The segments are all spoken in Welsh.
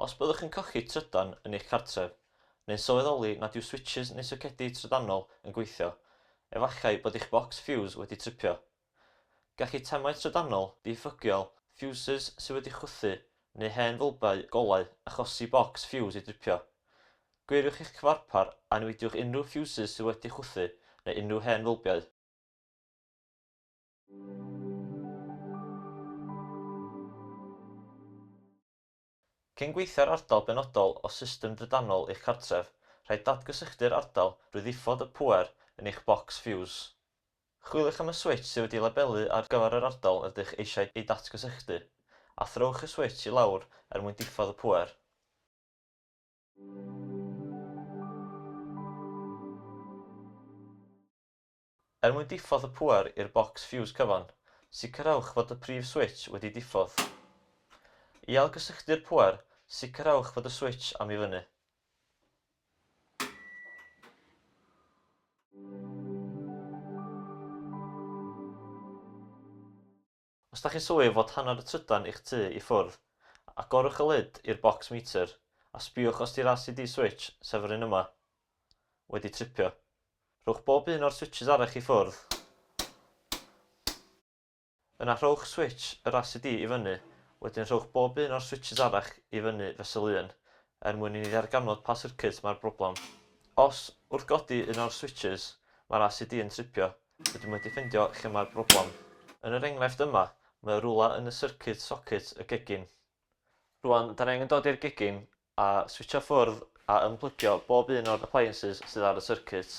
Os byddwch yn colli trydan yn eich cartref, neu'n sylweddoli nad yw switsys neu socedi trydanol yn gweithio, efallai bod eich bocs ffiws wedi tripio. Gall eitemau trydanol ddiffygiol, ffiwsys sydd wedi chwythu, neu hen fylbau golau achosi bocs ffiws i dripio. Gwiriwch eich cyfarpar a niweidiwch unrhyw ffiwsys sydd wedi chwythu neu unrhyw hen fylbiau. Cyn gweithio ar ardal benodol o system drydanol eich cartref, rhaid datgysylltu'r ardal drwy ddiffodd y pŵer yn eich bocs ffiws. Chwiliwch am y switsh sydd wedi'i labelu ar gyfer yr ardal rydych eisiau ei datgysylltu, a throwch y switsh i lawr er mwyn diffodd y pŵer. Er mwyn diffodd y pŵer i'r bocs ffiws cyfan, sicrhewch fod y prif switsh wedi diffodd. I ailgysylltu'r pŵer, sicrhewch fod y switsh am i fyny. Os da chi'n swydd fod hanner y trydan i'ch tŷ i ffwrdd, agorwch y lid i'r bocs meter a sbïwch os di'r RCD switch, sef yr un yma, wedi tripio. Rhowch bob un o'r switsys arall i ffwrdd. Yna rhowch switsh yr RCD i fyny, wedyn rhowch bob un o'r switshs arall i fyny fesul un, er mwyn i ni ddarganfod pa syrcyd mae'r broblem. Os, wrth godi un o'r switshs, mae'r RCD yn tripio, rydym wedi ffindio lle mae'r broblem. Yn yr enghraifft yma, mae o rywle yn y syrcyd socit y gegin. Rwan, da ni angen dod i'r gegin, A switsio ffwrdd a ymplygio bob un o'r appliances sydd ar y circuit.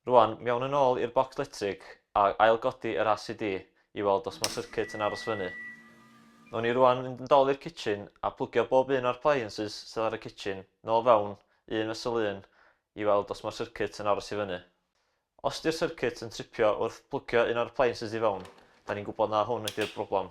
Rwan, mewn yn ôl i'r bocs letrig a ail-godi yr ACD i weld os mae circuit yn aros fyny. Nown ni rwan fynd yn dol i'r kitchen a plygio bob un o'r appliances sydd ar y kitchen nôl fewn, un fesul un, i weld os mae'r circuit yn aros i fyny. Os di'r circuit yn tripio wrth plygio un o'r appliances i fewn, da ni'n gwybod na hwn ydi'r broblem.